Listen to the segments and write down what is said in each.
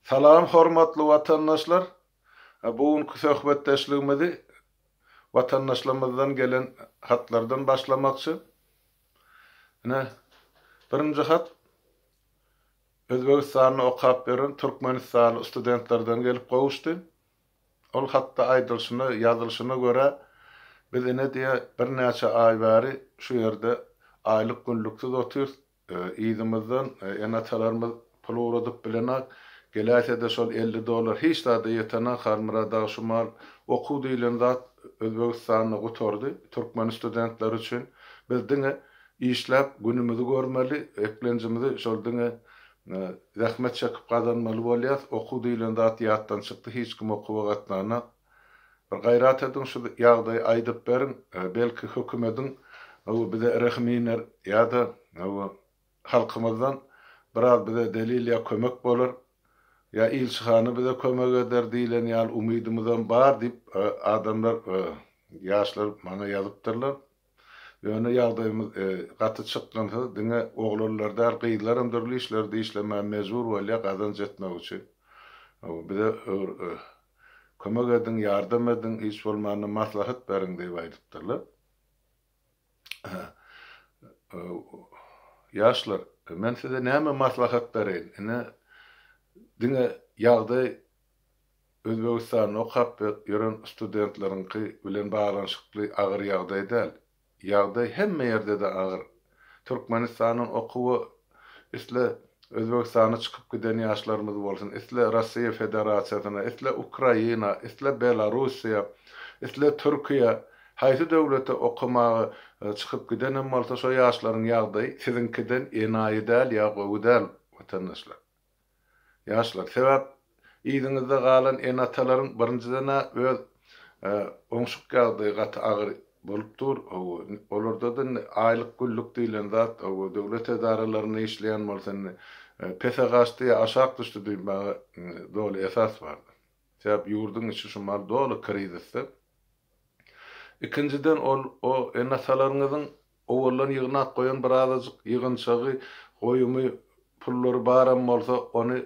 Salam hormatly watandaşlar! Bu günki söhbetdeşligimizi watandaşlarymyzdan gelen hatlardan başlamakçy. Ine, birinji hat Özbegistanda okap ýören türkmenistanly studentlerden gelip gowuşdy. Ol hatda aýdylşyna, ýazylyşyna görä, biz ine diýe birnäçe aý bäri şu ýerde aýlyk-günlüksiz otyrys, Yzymyzdan ene-atalarymyz pul ugradyp bilenak, geläýse-de şol elli dollar hiç zada ýetenak, Halmyrat aga şu mal, okuw diýlen zat Özbegistanda gutardy, türkmen studentleri üçin, biz diňe işläp günümizi görmeli, eklenjimizi şol diňe zähmet çekip gazanmaly bolýas, okuw diýlen zat ýatdan çykdy, hiç kim okuwa gatnanak. Bir gaýrat ediň şu ýagdaýy aýdyp beriň, belki hökümediň hawa bize rehim iner ýa-da hawa halkymyzdan biraz bize delil ýa kömek bolar, ýa ilçihana bize kömek eder diýlen ýaly umydymyzam bar diýip adamlar ýaşlar maňa ýazypdyrlar. Ýöne ýagdaýymyz gaty çykgynsyz, diňe oglanlar däl, gyzlaram dürli işlerde işlemäge mejbur bolýar gazanç etmek üçin. Bize kömek ediň, ýardam ediň, hiç bolmanda maslahat beriň diýip aýdypdyrlar. Ýaşlar, men size näme maslahat bereýin? Ine, diňe ýagdaý Özbegistanda okap ýören studentleriňki bilen baglanyşykly agyr ýagdaý däl. Ýagdaý hemme ýerde-de agyr. Türkmenistandan okuwa isle Özbegistana çykyp giden ýaşlarymyz bolsun, isle Russiýa Federasiýasyna, isle Ukraina, isle Belarussiýa, isle Türkiýä, haýsy döwlete okamaga çykyp gidenem bolsa, şo ýaşlaryň ýagdaýy siziňkiden enaýy däl ýa gowy däl, watandaşlar. Ýaşlar, sebäp yzyňyzda galan ene-atalaryň birinjiden-ä öz oňşuk ýagdaýy gaty agyr bolup dur, hawa, olarda-da indi aýlyk-günlük diýlen zat, hawa, döwlet edaralarynda işleýän bolsa indi pese gaçdy ýa aşak düşdi diýmäge doly esas bar. Sebäp ýurduň içi şu mahaly doly krizisde. Ikinjiden ol o ene-atalaryňyzyň Owaldan ýygnap goýan birazajyk ýygynçagy, goýumy, pullary baram bolsa, ony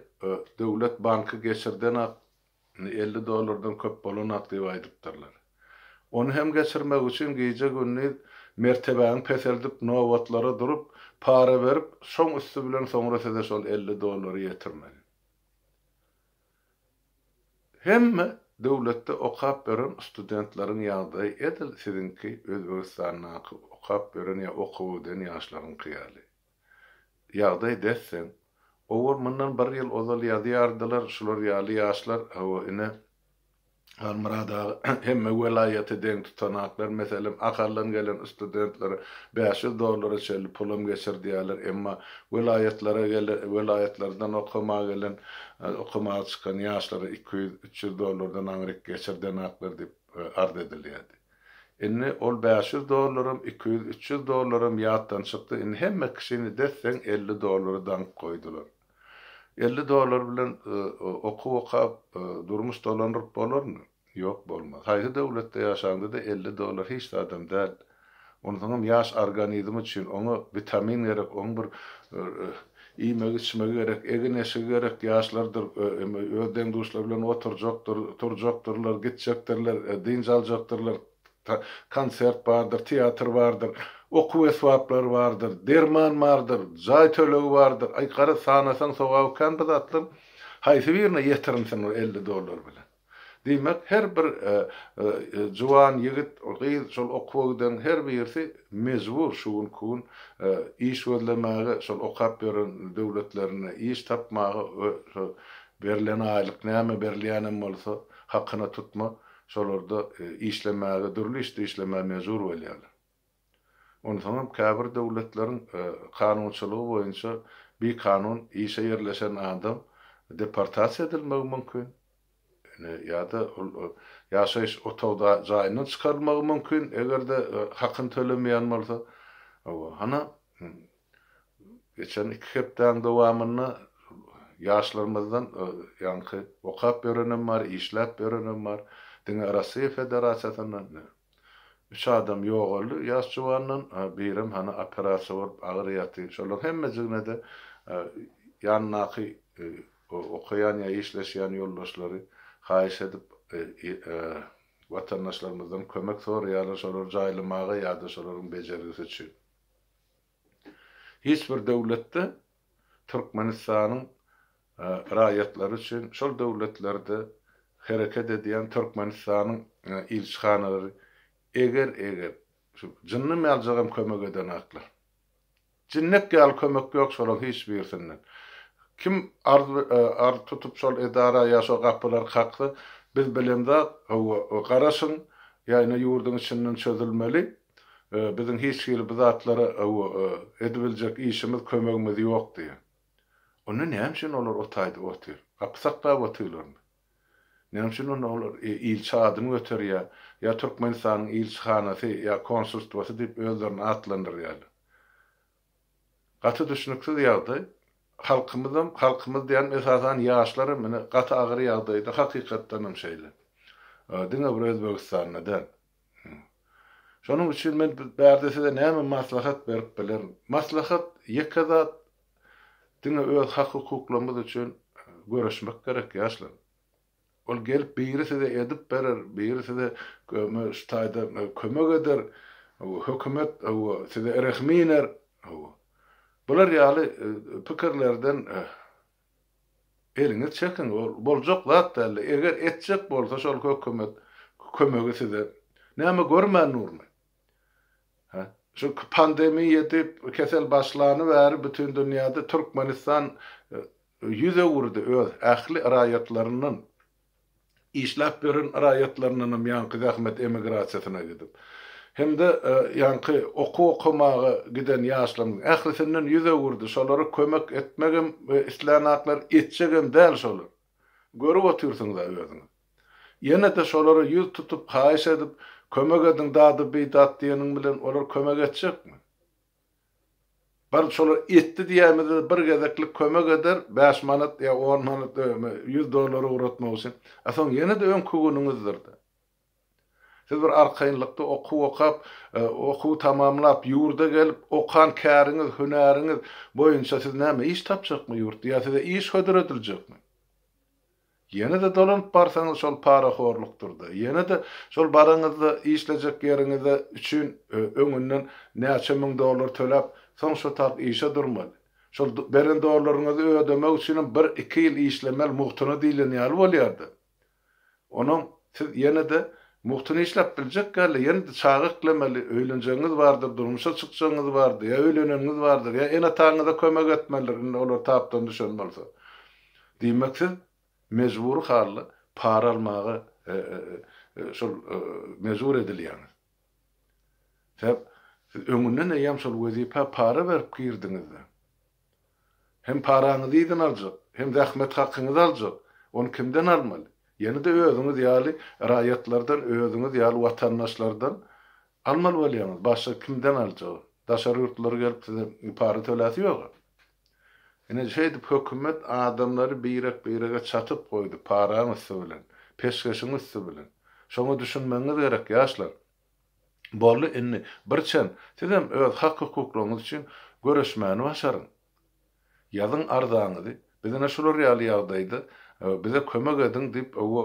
Döwlet banky geçirdenak, indi elli dollardan köp bolanak diýip aýdypdyrlar. Ony hem geçirmek üçin gije-gündiz mertebäňi peseldip, nobatlara durup, para berip, şoň üsti bilen soňra size şol elli dollary ýetirmeli. Hemme döwletde okap ýören studentlaryň ýagdaýy edil siziňki Özbegistandaky okap ýören ýa okuw öden ýaşlaryňky ýaly. Ýagdaý desseň. Owal mundan bir ýyl ozal ýazýardylar şular ýaly ýaşlar hawa ine Halmyrat aga, hemme welaýaty deň tutanaklar, meselem, Ahaldan gelen studentlere bäş ýüz dollara çenli pulam geçirdýärler, emma welaýatlara gelen, welaýatlardan okamaga gelen, okamaga çykan ýaşlara iki ýüz, üç ýüz dollardan aňryk geçirdenaklar diýip arz edilýärdi. Indi ol bäş ýüz dollaram, iki ýüz, üç ýüz dollaram ýatdan çykdy, indi hemme kişini desseň elli dollara daňyp goýdular. Elli dollar bilen okuw okap, durmuş dolandyryp bolarmy? Ýok, bolmaz. Haýsy döwletde ýaşaňda-da elli dollar hiç zadam däl. Onsoňam ýaş organizm üçin. Oňa witamin gerek, oň bir iýmegi-içmegi gerek, egin-eşigi gerek, ýaşlardyr, öz deň-duşlary bilen oturjakdyr, turjakdyrlar, gitjekdirler, dynç aljakdyrlar. konsert bardyr, teatr bardyr, okuw esbaplary bardyr, derman bardyr, jaý tölegi bardyr, aý, garaz, sanasaň sogaby kän bu zatlaryň. Haýsy birine ýetirinsin ol elli dollar bilen? Diýmek, her bir juwan ýigit, gyz, şol okuwa giden her birisi mejbur şu günki gün iş gözlemäge, şol okap ýören döwletlerinde iş tapmaga we şu berlen aýlyk näme berilýänem bolsa, hakyna tutma, şolarda işlemäge, dürli işde işlemäge mejbur bolýarlar. Onsoňam käbir döwletleriň kanunçylygy boýunça bikanun işe ýerleşen adam deportasiýa edilmegi mümkin, ýa-da ol ýaşaýyş otagda jaýyndan çykarylmagy mümkin, eger-de hakyny tölemeýän bolsa. Hawa, hany, Geçen iki hepdäň dowamynda ýaşlarymyzdan, ýaňky okap ýörenem bar, işläp ýörenem bar. Diňe Rossiýa Federasiýasyndan üç adam ýogaldy ýaş juwandan, birem hany operasiýa bolup agyr ýaty. Şolaryň hemmejigine-de ýanyndaky okaýan ýa işleşýän ýoldaşlary haýyş edip, watandaşlarymyzdan kömek soraýarlar şolary jaýlamaga ýa-da şolaryň bejergisi üçin. Hiç bir döwletde Türkmenistanyň raýatlary üçin şol döwletlerde hereket edýän Türkmenistanyň ilçihanalary eger eger şu jynny mäljigem kömek edenaklar. Jinnek ýaly kömek ýok şolaň hiç birisinden. Kim arz arz tutup şol edara ýa şo gapylary kaksa biz bilemzak hawa garaşyň ýa ine ýurduň içinden çözülmeli Biziň hiç hili bu zatlara edibiljek işimiz, kömegimiz ýok diýýär. Onda näme üçin olar o taýda otyr? Gapy saklap otyrlarmy? Näme üçin onda olar ilçi adyny göterýär? Ýa Türkmenistanyň ilçihanasy ýa konsulstwasy diýip özlerini atlandyrýarlar. Gaty düşnüksiz ýagdaý. Halkymyzam, halkymyz diýýänim esasan ýaşlaram ine gaty agyr ýagdaýda hakykatdanam şeýle. Diňe bir Özbegistanda däl. Şonuň üçin men bärde size näme maslahat berip bilerin? Maslahat ýeke zat diňe öz hak-hukuklarymyz üçin göreşmek gerek ýaşlar. Ol gelip biri size edip berer, biri size şu taýda kömek eder, hökümet size rehim iner. Bular ýaly pikirlerden eliňiz çekiň, ol boljak zat däldi. Eger etjek bolsa şol hökümet kömegi size, näme görmändirmi? Çünki pandemiýa diýip kesel başlany bäri bütin dünýäde Türkmenistan ýüz öwürdi öz ähli raýatlaryndan, işläp ýören raýatlaryndanam ýaňky zähmet emigrasiýasyna gidip, hem-de ýaňky okuw okamaga giden ýaşlarymyzyň ählisinden ýüz öwürdi, şolara kömek etmegem islänak-lar, etjegem däl şolar. Görüp otyrsyňyz-a özüňiz. Ýene-de şolara ýüz tutup, haýyş edip, kömek ediň dady bi dat diýeniň bilen olar kömek etjekmi? Bir şolar etdi diýäýmede-de bir gezeklik kömek eder, bäş manat ýa on manat, ýüz dollar ugratmak üçin. A soň ýene-de öňki günüňizdir-de. Siz bir arkaýynlykda okuw okap, okuw tamamlap, ýurda gelip, okan käriňiz, hünäriňiz boýunça siz näme iş tapjakmy ýurt? Ýa size iş hödür ediljekmi? Ýene-de dolanyp barsaňyz şol parahorlukdyr-da, ýene-de şol baraňyzda işlejek ýeriňize üçin öňünden näçe müň dollar töläp, soň şo tak işe durmaly. Şol beren dollaryňyzy ödemek üçinem bir-iki ýyl işlemeli, mugtuna diýlen ýaly bolýar-da. Onam siz ýene-de mugtyny işläp biljek ýaly, ýene-de çaga eklemeli, öýlenjegiňiz bardyr, durmuşa çykjagyňyz bardyr, ýa öýleneniňiz bardyr, ýa ene-ataňyza kömek etmelidir, indi olar tapdan düşen bolsa. Diýmek, siz mejbury halda para almaga şol mejbur edilýäňiz. Sebäp siz öňünden eýýäm şol wezipä para berip girdiňizde. Hem paraňyzy yzyn aljak, hem zähmet hakyňyzy aljak. Ony kimden almaly? Ýene-de özüňiz ýaly raýatlardan, özüňiz ýaly watandaşlardan almaly bolýaňyz. Başga kimden aljagy? Daşary ýurtlular gelip size para töläsi ýog-a. Ine, şeýdip hökümet adamlary birek-birege çatyp goýdy, paraň üsti bilen, peşgeşiň üsti bilen. Şoňa düşünmegiňiz gerek, ýaşlar. Boldy, indi birçen sizem öz hak-hukuklaryňyz üçin göreşmäni başaryň. Ýazyň arzaňyzy, biz ine şular ýaly ýagdaýda, bize kömek ediň diýip, owo,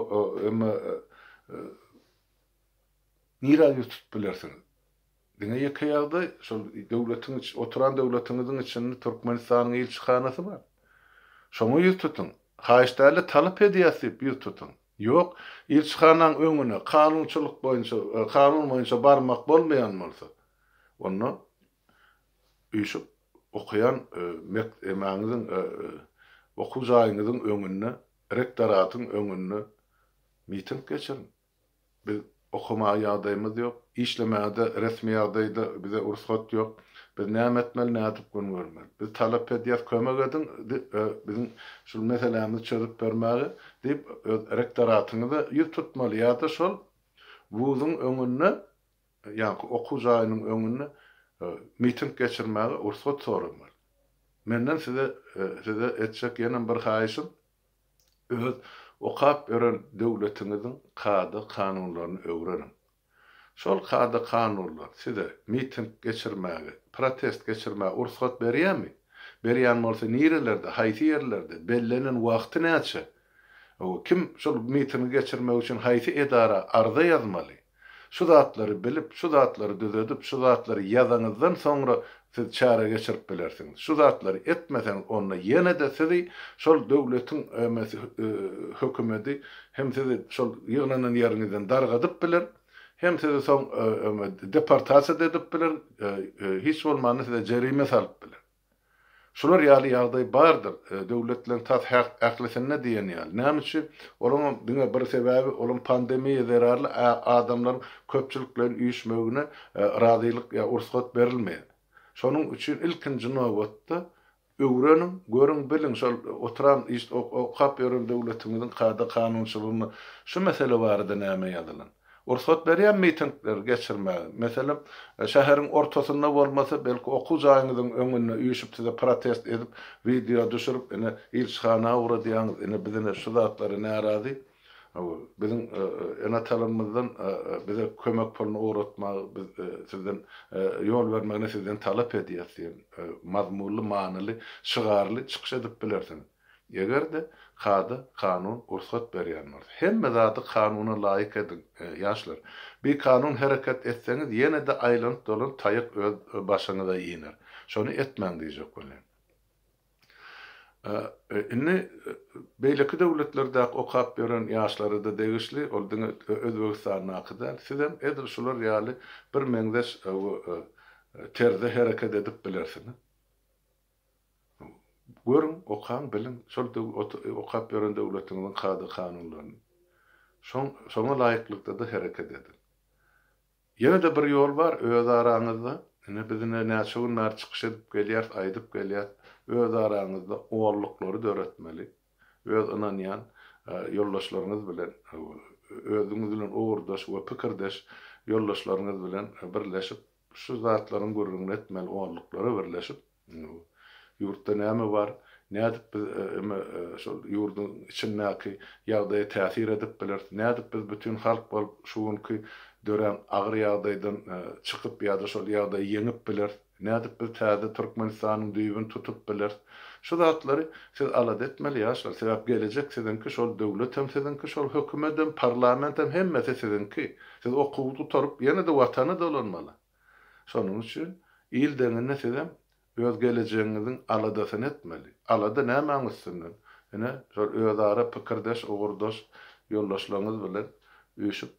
emma nirä ýüz tutup bilersiňiz? Diňe ýeke ýagdaý, şol döwletiň içi, oturan döwletiňiziň içinde Türkmenistanyň ilçihanasy bar. Şoňa ýüz tutuň. Haýyş däl-de, talap edýäs diýip ýüz tutuň. Ýok, ilçihanaň öňüne kanunçylyk boýunça, kanun boýunça barmak bolmaýan bolsa, onda üýşüp okaýan mek, emäňiziň, okuw jaýyňyzyň öňünde, rektoratyň öňünde miting geçiriň. Biz okamaga ýagdaýymyz ýok, işlemäge-de resmi ýagdaýda bize rugsat ýok. Biz näme etmeli, nädip gün görmeli? Biz talap edýäs, kömek ediň, biziň şul meselämizi çözüp bermäge diýip, öz rektoratyňyza ýüz tutmaly ýa-da şol wuzuň öňünde, ýaňky okuw jaýynyň öňünde miting geçirmäge rugsat soramaly. Menden size size etjek ýene bir haýyşym, Öz okap ýören döwletiňiziň kada-kanunlaryny öwreniň. Şol kada-kanunlar size miting geçirmäge, protest geçirmäge ursgat berýärmi? Berýän bolsa nirelerde, haýsy ýerlerde, bellenen wagty näçe? Kim şol mitingi geçirmek üçin haýsy edara arza ýazmaly? Şu zatlary bilip, şu zatlary düzedip, şu zatlary ýazaňyzdan soňra siz çäre geçirip bilersiňiz. Şu zatlary etmeseňiz, onda ýene-de sizi şol döwletiň hökümedi hem sizi şol ýygnanan ýeriňizden dargadyp biler, hem sizi soň deportasiýa-da edip biler, hiç bolmanda size jerime salyp biler. Şular ýaly ýagdaý bardyr döwletleriň tas ählisinde diýen ýaly. Näme üçin? Olaňam diňe bir sebäbi olaň pandemiýa zerarly adamlaryň köpçülikleýin üýşmegine razylyk ýa ursgat berilmeýär. Şonuň üçin ilkinji nobatda öwreniň, görüň, biliň şol oturan okap ýören döwletiňiziň kada-kanunçylygynda şu mesele barada näme ýazylan? Rugsat berýän mitingleri geçirmäge. Meselem, şäheriň ortasynda bolmasa, belki okuw jaýyňyzyň öňünde üýşüp size protest edip, wideo düşürip, ine, ilçihana ugra diýýäňiz, ine, biz ine şu zatlara närazy, biziň ene-atalarymyzdan bize kömek puluny ugratmagy biz sizden ýol bermegini sizden talap edýäs diýen mazmunly, manyly, şygarly çykyş edip bilersiňiz. Eger-de kada, kanun rugsat berýän bolsa. Hemme zady kanuna laýyk ediň, ýaşlar. Bikanun hereket etseňiz ýene-de aýlanyp-dolanyp taýak öz başyňyza iner. Şony etmäň diýjek welin. Indi beýleki döwletlerdäki okap ýören ýaşlara-da degişli, ol diňe Özbegistandaky däl. Sizem edil şular ýaly bir meňzeş terzde hereket edip bilersiňiz. Görüň, okaň, biliň şol okap ýören döwletiňiziň kada-kanunlaryny. Şoňa laýyklykda-da hereket ediň. Ýene-de bir ýol bar, özaraňyzda, ine, biz ine näçe gün bäri çykyş edip gelýäris, aýdyp gelýäris, özaraňyzda oňluklary döretmeli, öz ynanýan ýoldaşlaryňyz bilen, özüňiz bilen ugurdaş we pikirdeş ýoldaşlaryňyz bilen birleşip, Şu zatlaryň gürrüňini etmeli onluklara birleşip, ýurtda näme bar, nädip biz eme şol ýurduň içindäki ýagdaýa täsir edip bileris, nädip biz bütin halk bolup şu günki dörän agyr ýagdaýdan çykyp ýa-da şol ýagdaýy ýeňip bileris, nädip biz täze Türkmenistanyň düýbüni tutup bileris. Şu zatlary siz alada etmeli ýaşlar, sebäp gelejek siziňki, şol döwletem siziňki, şol hökümedem, parlamentem hemmesi siziňki. Siz okuwy gutaryp, ýene-de Watana dolanmaly. Şonuň üçin il deňinde sizem öz gelejegiňiziň aladasyny etmeli. Alada nämäň üstünden? Ine, şol özara pikirdeş, ugurdaş ýoldaşlaryňyz bilen üýşüp,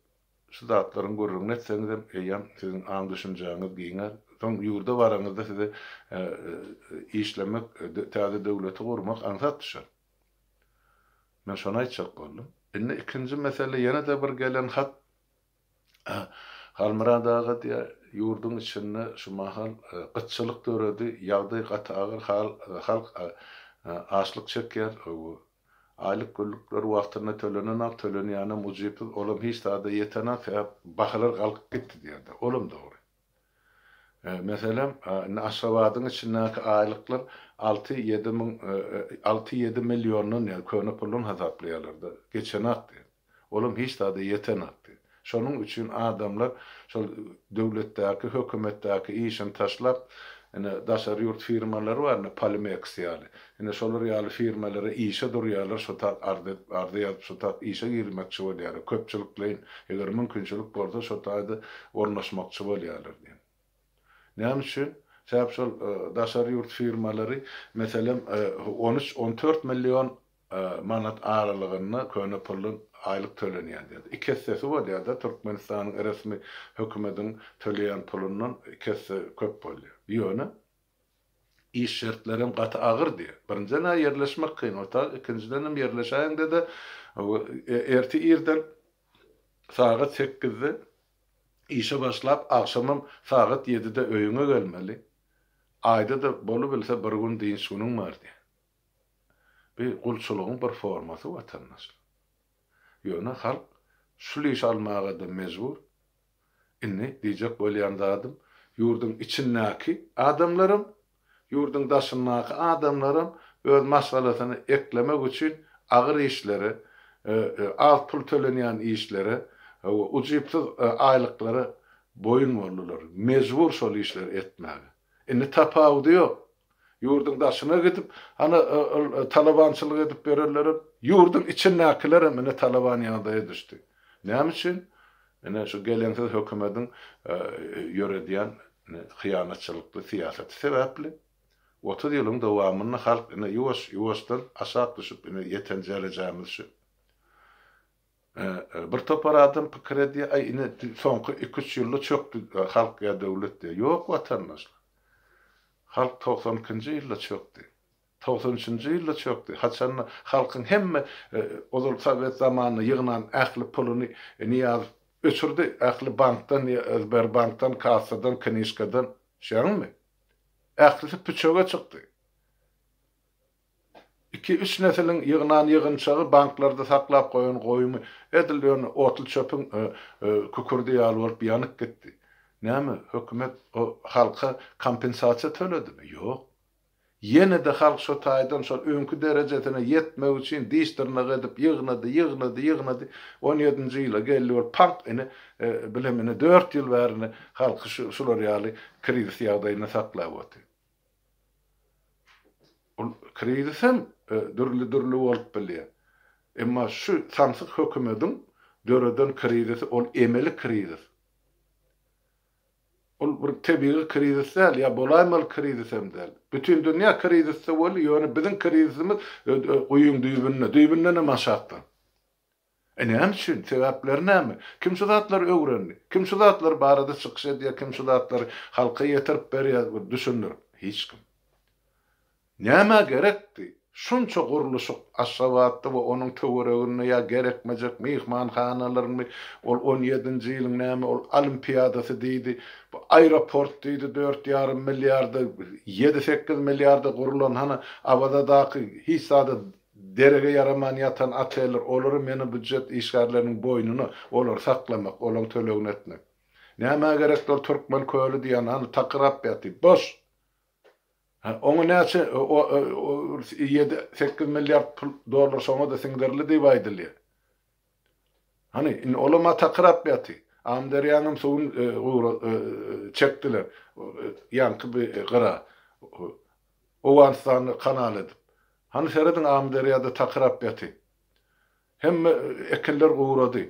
şu zatlaryň gürrüňini etseňizem, eýýäm siziň aň-düşünjäňiz giňär. Soň ýurda baraňyzda size işlemek, täze döwleti gurmak aňsat düşer. Men şony aýtjak boldum. Indi ikinji mesele ýene-de bir gelen hat. Halmyrat aga diýýär, ýurduň içinde şu mahal gytçylyk döredi, ýagdaý gaty agyr, halk açlyk çekýär, aýlyk-günlükler wagtynda tölenenok, tölenýänem ujypsyz, olam hiç zada ýetenok, sebäp bahalar galkyp gitdi diýýär-de, olam dogry. Meselem, indi Aşgabadyň içindäki aýlyklar alty-ýedi müň, alty-ýedi milliondan ýa köne puldan hasaplaýarlar-da, geçenakdy. Olam hiç zada ýetenakdy. Şonuň üçin adamlar şol döwletdäki, hökümetdäki işini taşlap, ine, daşary ýurt firmalary bar, indi Polimeks ýaly. Ine şolar ýaly firmalara işe durýarlar şu tat arz edip arza ýazyp şu tat işe girmekçi bolýarlar köpçülikleýin eger mümkinçilik bolsa şo taýda ornaşmakçy bolýarlar diýen. Näme üçin? Sebäp şol daşary ýurt firmalary meselem on üç on dört million manat aralygynda köne pully aýlyk tölenýän diýýär. Iki essesi bolýarda Türkmenistanyň resmi hökümediň töleýän pulundan iki esse köp bolýar. Ýöne Iş şertlerem gaty agyrdy. Birinjiden-ä ýerleşmek kyn otag, ikinjidenem ýerleşäýiňde-de ertir irden sagat sekizde işe başlap, agşamam sagat ýedide öýüňe gelmeli. Aýda-da bolubilse bir gün dynç günüň bardy. Bu gulçulygyň bir formasy watandaşlar. Ýöne halk şul işi almaga-da mejbur. Indi diýjek bolýan zadym, ýurduň içindäki adamlaram, ýurduň daşyndaky adamlaram öz maşgalasyny eklemek üçin agyr işlere, az pul tölenýän işlere we ujypsyz aýlyklara boýun boldular, mejbur şol işleri etmäge. Indi tapawudy ýok. Ýurduň daşyna gidip, ana, ol talabançylyk edip berenlerem, ýurduň içindäkilerem ine talaban ýagdaýa düşdi. Näme üçin? Ine, şu geleňsiz hökümediň ýöredýän hyýanatçylykly syýasaty sebäpli. Otuz ýylyň dowamynda halk ine ýuwaş-ýuwaşdan aşak düşüp, ine ýeten järejämiz şu. Bir topar adam pikir edýär, aý ine soňky iki-üç ýylda çökdi halk ýa döwlet diýýär. Ýok watandaşlar. Halk togsan ikinji ýylda çökdi. Togsan üçünji ýylda çökdi. Haçanda halkyň hemme ozal sowet zamanynda ýygnan ähli puluny Nyýazow öçürdi. Ähli bankdan, Sberbankdan, kassadan, knyžkadan. Düşýäňizmi? Ählisi püçege çykdy. Iki-üç nesiliň ýygnan ýygynçagy, banklarda saklap goýan goýumy edil ýöne otly çöpüň kükürdi ýaly bolup ýanyp gitdi. Näme, hökümet o halka kompensasiýa töledimi? Ýok. Ýene-de halk şo taýdan şol öňki derejesine ýetmek üçin diş-dyrnak edip ýygnady, ýygnady, ýygnady. On ýedinji ýyla geldi bolup paňk ine, bilem ine dört ýyl bäri ine halky şular ýaly krizis ýagdaýynda saklap otyr. Ol krizis hem dürli-dürli bolup bilýär. Emma şu samsyk hökümediň döreden krizisi ol emeli krizis. Ol bir tebigy krizis däl, ýa bolaýmaly krizis hem däl. Bütin dünýä krizisde boldy, ýöne biziň krizisimiz guýyň düýbünde, düýbündenem aşakda. E näme üçin? Sebäpleri näme? Kim şu zatlary öwrendi? Kim şu zatlar barada çykyş edýär, kim şu zatlary halka ýetirip berýär, bir düşündirip? Hiç kim. Nämä gerekdi? Şunça gurluşyk Aşgabatda we onuň töwereginde ýa gerekmejek myhmanhanalarmy, ol on ýedinji ýylyň näme ol olimpiadasy diýdi, bu aeroport diýdi, dört ýarym milliarda, ýedi-sekiz milliarda gurlan, hany Awazadaky hiç zada Derege ýaraman ýatan oteller, olary meni býujet işgärleriniň boýnuna, olary saklamak, olaň tölegini etmek. Nämä gerekdi ol Türkmen köli diýýän, hany takyrap ýaty, boş! Hä, oňa näçe, o, o, o, ýedi, sekiz milliard pul, dollar şoňa-da siňdirli diýip aýdylýa. Hany, indi olam ata kyrap ýaty. Amyderýaňam suwun gura çekdiler. Ýaňky bi gyra. Owganystany kanal edip. Hany serediň Amyderýada takyrap ýaty. Hemme ekinler gurady.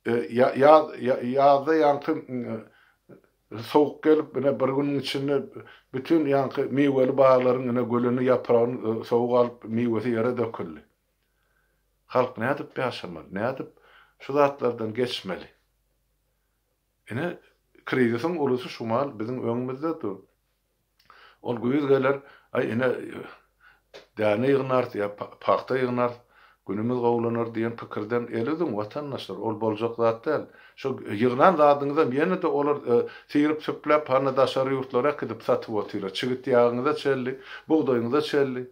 Ýaz ýazda ýaňky sowuk gelip ine bir günüň içinde bütin ýaňky miweli baglaryň ine gülüni ýapragyny sowuk alyp miwesi ýere döküldi. Halk nädip ýaşamaly? Nädip şu zatlardan geçmeli? Ine, krizisiň ulusy şu maal biziň öňümizde dur. Ol güýz geler, aý, ine, däne ýygnarys ýa pagta ýygnarys, günümiz gowulanar diýen pikirden el üzüň, watandaşlar, ol boljak zat däl. Şo ýygnan zadyňyzam ýene-de olar syryp-süpläp, hany daşary ýurtlara äkidip satyp otyra. Çigit ýagyňyza çelli, bugdaýyňyza çelli.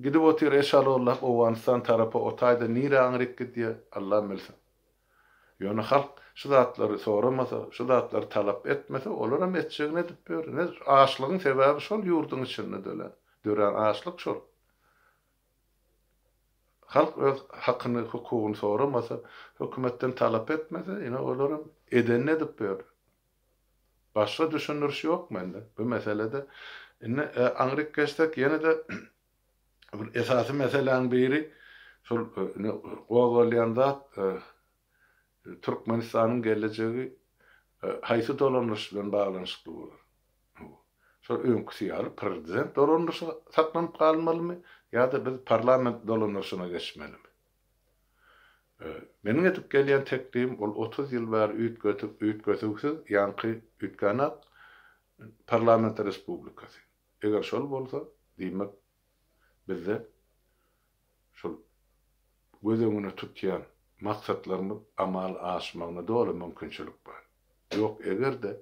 Gidip otyr eşalollah owganystan tarapa otaýda nire aňryk gidýä allam bilsin. Ýöne halk şu zatlary soramasa şu zatlary talap etmese olaram etjegini edip biler nedir açlygyň sebäbi şol ýurdyň içinde dölen dörän açlyk şol. Halk öz hakyny hukugyny soramasa hökümetden talap etmese ine olaram edenini edip biler. Başga düşündiriş ýok mende bu meselede. Indi aňryk geçsek ýene-de bir esasy meseläň biri şol indi gozgalýan zat Türkmenistanyň gelejegi haýsy dolandyryş bilen baglanyşykly bolar? Şol öňküsi ýaly prezident dolandyryşy saklanyp galmalymy ýa-da biz parlament dolandyryşyna geçmelimi? Meniň edip gelýän teklibim ol otuz ýyl bäri üýtgedüwsiz ýaňky üýtgänok parlament respublikasy. Eger şol bolsa, diýmek bizde şol göz öňüne tutýan maksatlarymyz amala aşmagyna doly mümkinçilik bar. Ýok eger-de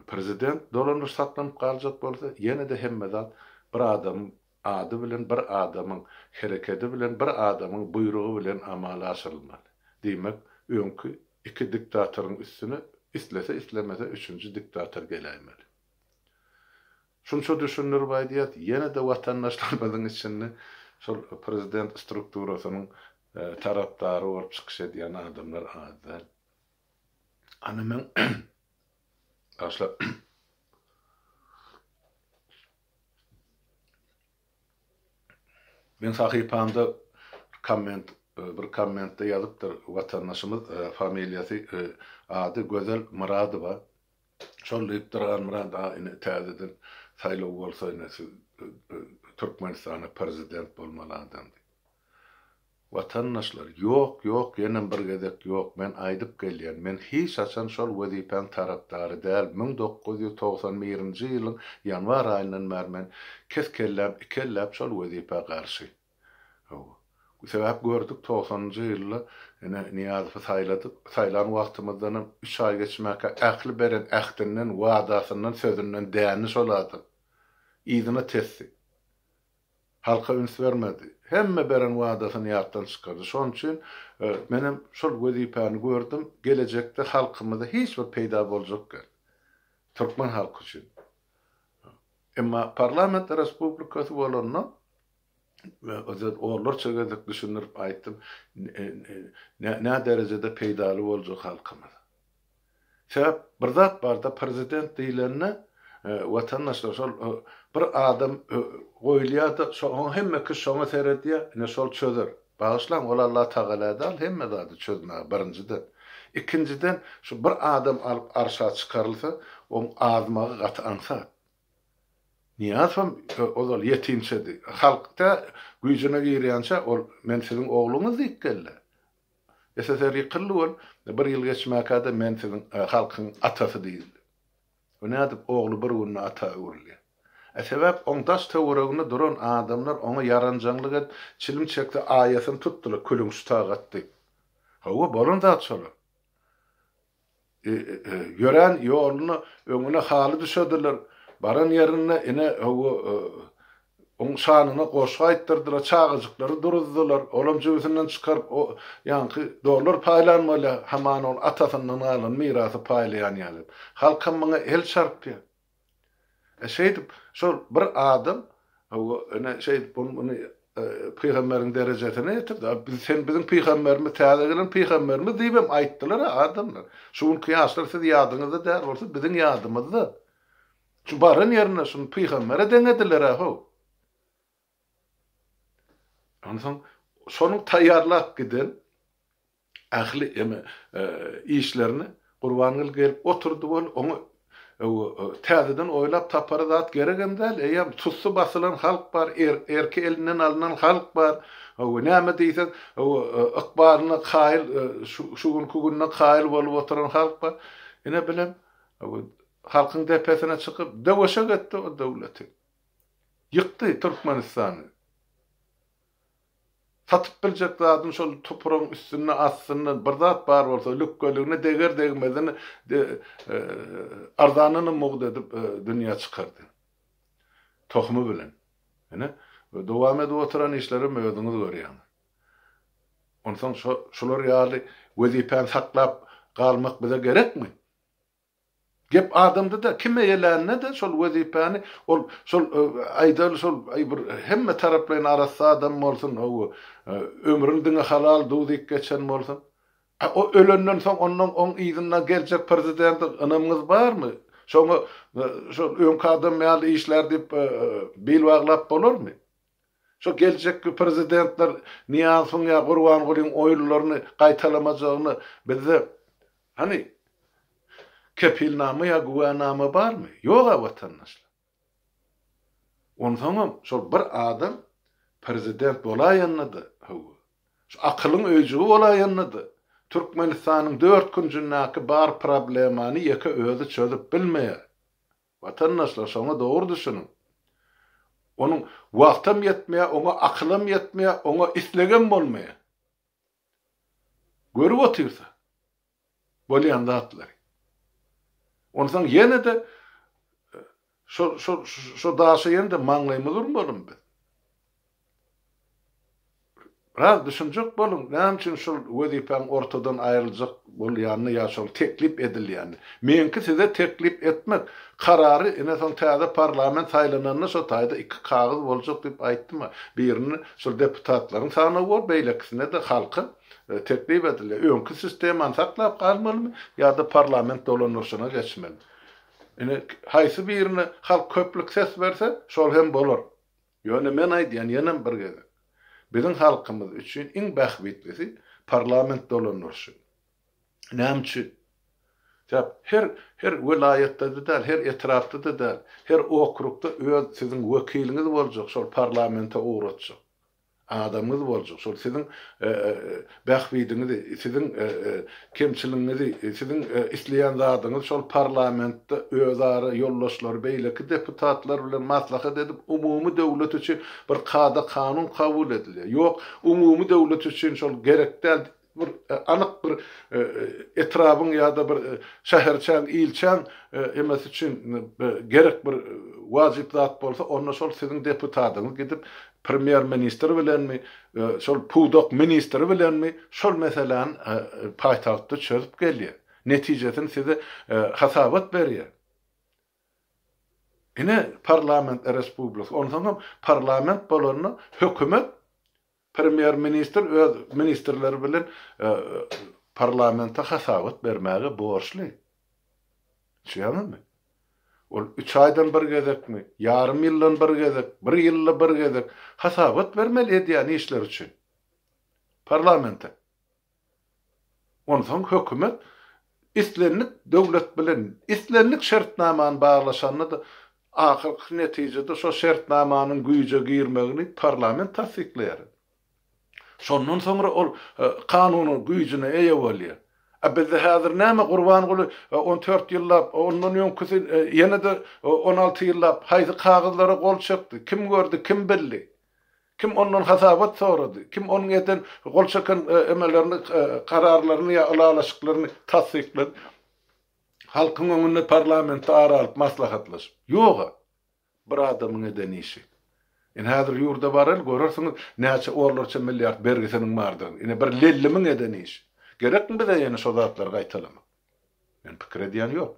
prezident dolanyşyk saklanyp galjak bolsa ýene-de hemme zat bir adamyň Ady bilen bir adamyň, herekedi bilen bir adamyň buýrugy bilen amala aşyrylmaly. Diýmek, öňki iki diktatoryň üstüne islese-islemese üçünji diktator geläýmeli. Şunça düşündirip aýdýas, ýene-de watandaşlarymyzyň içinde şol prezident strukturasynyň tarapdary bolup çykyş edýän adamlar az däl. Ana men, bagşlar, Men sahypamda komment bir kommentde ýazypdyr watandaşymyz familiýasy ady Gözel Myradowa şol diýipdir Halmyrat aga ine täzeden saýlaw bolsa ine siz Türkmenistana prezident bolmaly adam diýip. Watandaşlar, ýok, ýok, ýenem bir gezek ýok, men aýdyp gelýän, men hiç haçan şol wezipäň tarapdary däl, müň dokuz ýüz togsan birinji ýylyň ýanwar aýyndan bäri men kes kelläm iki elläp şol wezipä garşy. Hawa. Sebäp gördük togsanynjy ýylda ine Nyýazowy saýladyk, saýlan wagtymyzdanam üç aý geçmäkä ähli beren ähtinden, wadasyndan, sözünden dändi şol adam. Yzyna tesdi. Halka üns bermedi. Hemme beren wadasyny ýatdan çykardy. Şonuň üçin menem şol wezipäni gördüm. Gelejekde halkymyza hiç bir peýda boljak däl. Türkmen halky üçin. Emma parlament respublikasy bolanda onlarça gezek düşündirip aýtdym, näderejede peýdaly boljak halkymyza. Sebäp bir zat barda prezident diýlende watandaşlar şol bir adam goýulýada soň hemme kişi şoňa seredýä ine şol çözer. Bagyşlaň ol Allah Tagala dal hemme zady çözmäge birinjiden. Ikinjiden şu bir adam alyp arşa çykarylsa oň azmagy gaty aňsat. Niýazowam ozal ýetimçedi. Halk tä güýjüne girýänçä ol men siziň ogluňyz diýip geldi. SSR ýykyldy bol, bir ýyl geçmäkä-de men siziň halkyň atasy diýildi. Bu nädip ogly bir günde ata öwrülýä? E sebäp oň daş töwereginde duran adamlar oňa ýaranjaňlyk edip, çilim çekse aýasyny tutdylar, külüň şu tagat diýip. Hawa, bolan zat şolar. Ýörän ýoluna öňüne haly düşerdiler. Baran ýerinde ine, hawa, oň şanyna goşgy aýtdyrdylar, çagajyklary duruzdylar. Olam jübüsinden çykaryp, o ýaňky dollar paýlan bolýar, hamana ol atasyndan galan mirasy paýlaýan ýaly. Halkam muňa el çarpýar. E şeýdip, şol bir adam ene şeýdip ony pygamberiň derejesine ýetirdi. Biz sen biziň pygamberimiz, täze gelen pygamberimiz diýibem aýtdylar-a adamlar. Şu günki ýaşlar siz ýadyňyzda däl bolsa biziň ýadymyzda. Şu baran ýerinde şuny pygambere deňediler-a how. Onsoň şonuň taýýarlap giden ähli eme işlerini Gurbanguly gelip oturdy bol, oňa täzeden oýlap tapara zat geregem däl, eýýäm tussy basylan halk bar, erki elinden alnan halk bar, hawa, näme diýseň, hawa, ykbalyna kaýyl, şu günki gününe kaýyl bolup oturan halk bar. Ine, bilen, hawa, halkyň depesine çykyp, döweşek etdi o döwleti. Ýykdy Türkmenistany. Satyp biljek zadyň şol topragyň üstünde astynda bir zat bar bolsa lükgeligine deger degmezine arzanyny mugt edip dünýä çykardy. Tohumy bilen. Ine dowam edip oturan işlerim özüňiz görýäňiz. Onsoň şular ýaly wezipäni saklap galmak bize gerekmi? Gep adamda-da, kim eýelände-de şol wezipäni, ol, şol, aýdaly, şol, aý, bir hemme taraplaýyn arassa adam bolsun, hawa, ömrüni diňe halal duz iýip geçen bolsun. A o ölenden soň ondan oň yzyndan geljek prezidente ynamyňyz barmy? Şoňa, şol öňki adam ýaly işlär diýip, bil baglap bolarmy? Şo geljekki prezidentler Nyýazowyň ýa Gurbangulyň oýunlaryny gaýtalamajagyna bizde, hany, kepilnama ýa güwänama barmy? Ýog-a, watandaşlar. Onsoňam şol bir adam prezident bolaýanda-da, hawa, şu akylyň öýjügi bolaýanda-da, Türkmenistanyň dört künjündäki bar problemany ýeke özi çözüp bilmeýär. Watandaşlar şoňa dogry düşüniň. Onuň wagtam ýetmeýär, oňa akylam ýetmeýär, oňa islegem bolmaýar. Görüp otyrsa bolýan zatlary. Onsoň ýene-de şo şo şo daşa ýene-de maňlaýymyz urmalym biz. Biraz düşünjek boluň, näme üçin şol wezipäň ortadan aýryljak bolýanyny ýa şol teklip edilýänini. Meňki size teklip etmek. Karary ine soň täze parlament saýlananda şo taýda iki kagyz boljak diýip aýtdym-a. Birini şol deputatlaryň sanawy bor, beýlekisine-de halka teklip edilýär. Öňki sistemany saklap galmalymy ýa-da parlament dolandyryşyna geçmelimi. Ine, haýsy birine halk köplük ses berse, şol hem bolar. Ýöne men aýdýan ýenem bir gezek, biziň halkymyz üçin iň bähbitlisi parlament dolandyryşy. Näme üçin? Sebäp her her welaýatda-da däl, her etrapda-da däl, her okrugda öz siziň wekiliňiz boljak, şol parlamente ugratjak adamyňyz boljak, şol siziň Bähbidiňizi, siziň kemçiligiňizi, siziň isleýän zadyňyz şol parlamentde özara ýoldaşlar, beýleki deputatlar bilen maslahat edip, umumy döwlet üçin bir kada-kanun kabul edilýär. Ýok, umumy döwlet üçin şol gerek däl, bir anyk bir etrabyň ýa-da bir şäherçäň, ilçäň emesi üçin gerek bir wajyp zat bolsa, onda şol siziň deputadyňyz gidip, Premýer ministr bilenmi, şol pudak ministri bilenmi şol meseläni paýtagtda çözüp gelýär. Netijesini size hasabat berýär. Ine parlament respublika, onsoňam parlament bolanda hökümet premýer ministr öz ministrleri bilen parlamente hasabat bermäge borçly. Düşünýäňizmi? Ol üç aýdan bir gezekmi, ýarym ýyldan bir gezek, bir ýylda bir gezek hasabat bermeli edýän işleri üçin parlamente. Onsoň hökümet islendik döwlet bilen islendik şertnamany baglaşanda-da, ahyrky netijede şo şertnamanyň güýje girmegini parlament tassyklaýar. Şondan soňra ol kanunyň güýjüne eýe bolýar. A bizde häzir näme Gurbanguly on dört ýyllap, ondan öňküsi ýene-de on alty ýyllap haýsy kagyzlara gol çekdi, kim gördi, kim bildi? Kim ondan hasabat sorady? Kim onuň eden, gol çeken emelerini, kararlaryny ýa ylalaşyklaryny tassyklady? Halkyň öňünde parlamentde ara alyp maslahatlaşyp? Ýog-a. Bir adamyň eden işi. Ine häzir ýurda baryl, görersiňiz näçe orlarça milliard bergisiniň bardygyny. Ine bir lellimiň eden işi. Gerekmi bize ýene şo zatlary gaýtalamak? Men pikir edýän ýok.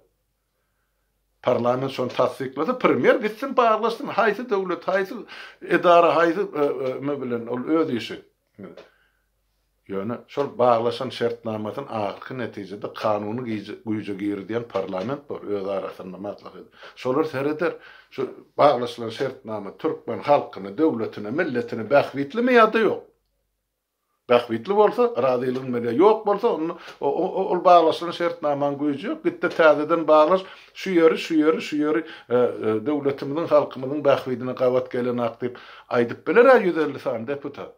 Parlament şony tassyklasa, premýer gitsin barlaşsyn, haýsy döwlet, haýsy edara, haýsy bilen ol öz işi. Ýöne şol baglaşan şertnamasyny ahyrky netijede kanuny güýje girizýän parlament bar, öz arasynda maslahat edip. Şolar sereder, şu baglaşylan şertnama türkmen halkyny, döwletini, milletini bähbitlimi ýa-da ýok? Bähbitli bolsa, razylygyň berýär, ýok bolsa, onda ol baglaşylan şertnamaň güýji ýok, git-de täzeden baglaş, şu ýeri, şu ýeri, şu ýeri döwletimiziň, halkymyzyň bähbidine gabat gelenok diýip aýdyp biler-ä ýüz elli sany deputat.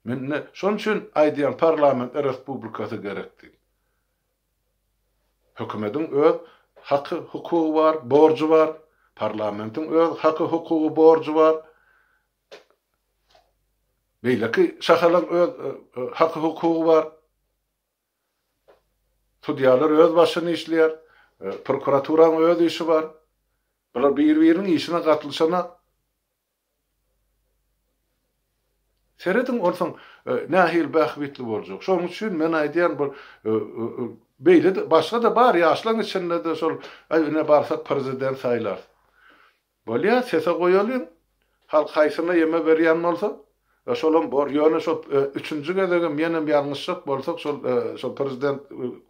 Mende şoň üçin aýdýan parlament respublikasy gerek diýip. Hökümediň öz haky hukugy bar, borjy bar. Parlamentiň öz haky hukugy borjy bar. Beýleki şahalaň öz haky hukugy bar. Sudýalar öz başyny işleýär. Prokuraturaň öz işi bar. Bular bir biriniň işine gatylyşana Serediň onsoň nähili bähbitli boljak. Şonuň üçin men aýdýan bir beýle-de başga-da bar ýaşlaň içinde-de şol aý ine barsak prezident saýlarys. Bolýa sese goýalyň. Halk haýsyna ýeme berýän bolsa E şolam bor ýöne şo üçünji gezegem menem ýalňyşjak bolsak şol şol prezident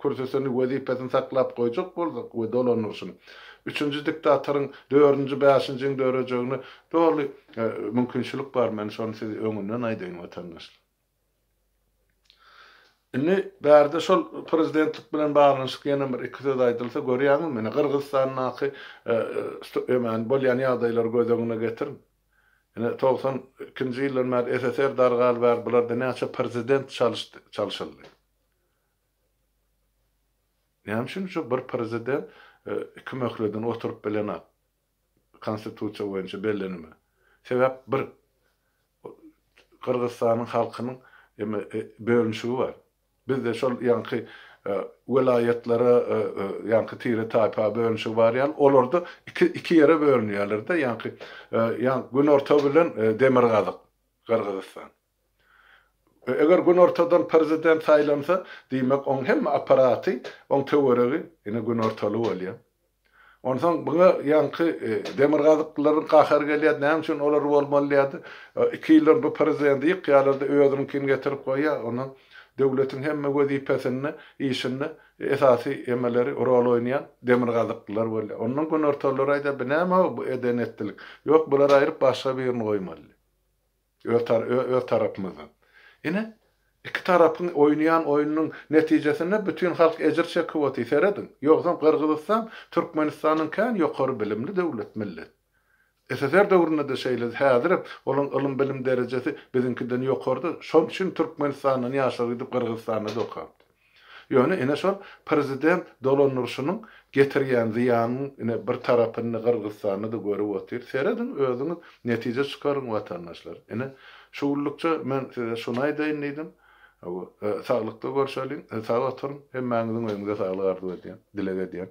kürsüsini wezipesini saklap goýjak bolsak we dolandyryşyny üçünji diktatoryň dördünji bäşinjiň dörejegine doly mümkinçilik bar men şony siz öňünden aýdaýyn watandaşlar. Indi bärde şol prezidentlik bilen baglanyşyk ýene bir iki söz aýdylsa görýäňizmi ine gyrgyzstandaky bolýan ýagdaýlary göz öňüne getiriň. Ine, togsan ikinji ýyldan bäri SSR dargaly bäri bularda näçe prezident çalyşdy, çalşyldy. Näme üçin şu bir prezident iki möhledini oturyp bilenok? Konstitusiýa boýunça bellenime. Sebäp bir, Gyrgyzystanyň halkynyň bölünişigi bar. Bizde şol ýaňky welaýatlara ýaňky tire-taýpa bölünişigi bar ýaly, olarda iki iki ýere bölünýärler-de, ýaňky ýaňky günorta bilen demirgazyk, Gyrgyzystan. Eger günortadan prezident saýlansa, diýmek, oň hemme apparaty, oň töweregi ine günortaly bolýar. Onsoň muňa ýaňky demirgazyklylaryň gahary gelýärdi, näme üçin olar bolmaly diýýärdi. Iki ýyldan bu prezidenti ýykýarlar-da, özüniňkini getirip goýýar. Ondan döwletiň hemme wezipesinde, işinde esasy emeleri, rol oýnaýan demirgazyklylar bolýar. Ondan günortalylar aýdýar, bu näme-ow, bu eden-etdilik. Ýok, bulary aýryp başga birini goýmaly. öz tarapymyzdan. Ine, iki tarapyň oýnaýan oýnunyň netijesinde bütin halk ejir çekip otyr, serediň. Ýogsam Gyrgyzystan Türkmenistandan kän ýokary bilimli döwlet, millet. SSR döwründe-de şeýledi, häzirem olaryň ylym-bilim derejesi biziňkiden ýokarydyr. Şonuň üçin Türkmenistandan ýaşlar gidip Gyrgyzystanda-da okapdyr. Ýöne ine şol prezident dolandyryşynyň getirýän zyýanynyň ine bir tarapyny Gyrgyzystanda-da görüp otyr. Serediň özüňiz netije çykaryň watandaşlar. Ine şu günlükçe men size şuny aýdaýyn diýdim. Saglykda görşeliň, sag oturyň. Hemmäňiziň öýüňize saglyk arzuw edýän, dileg edýän.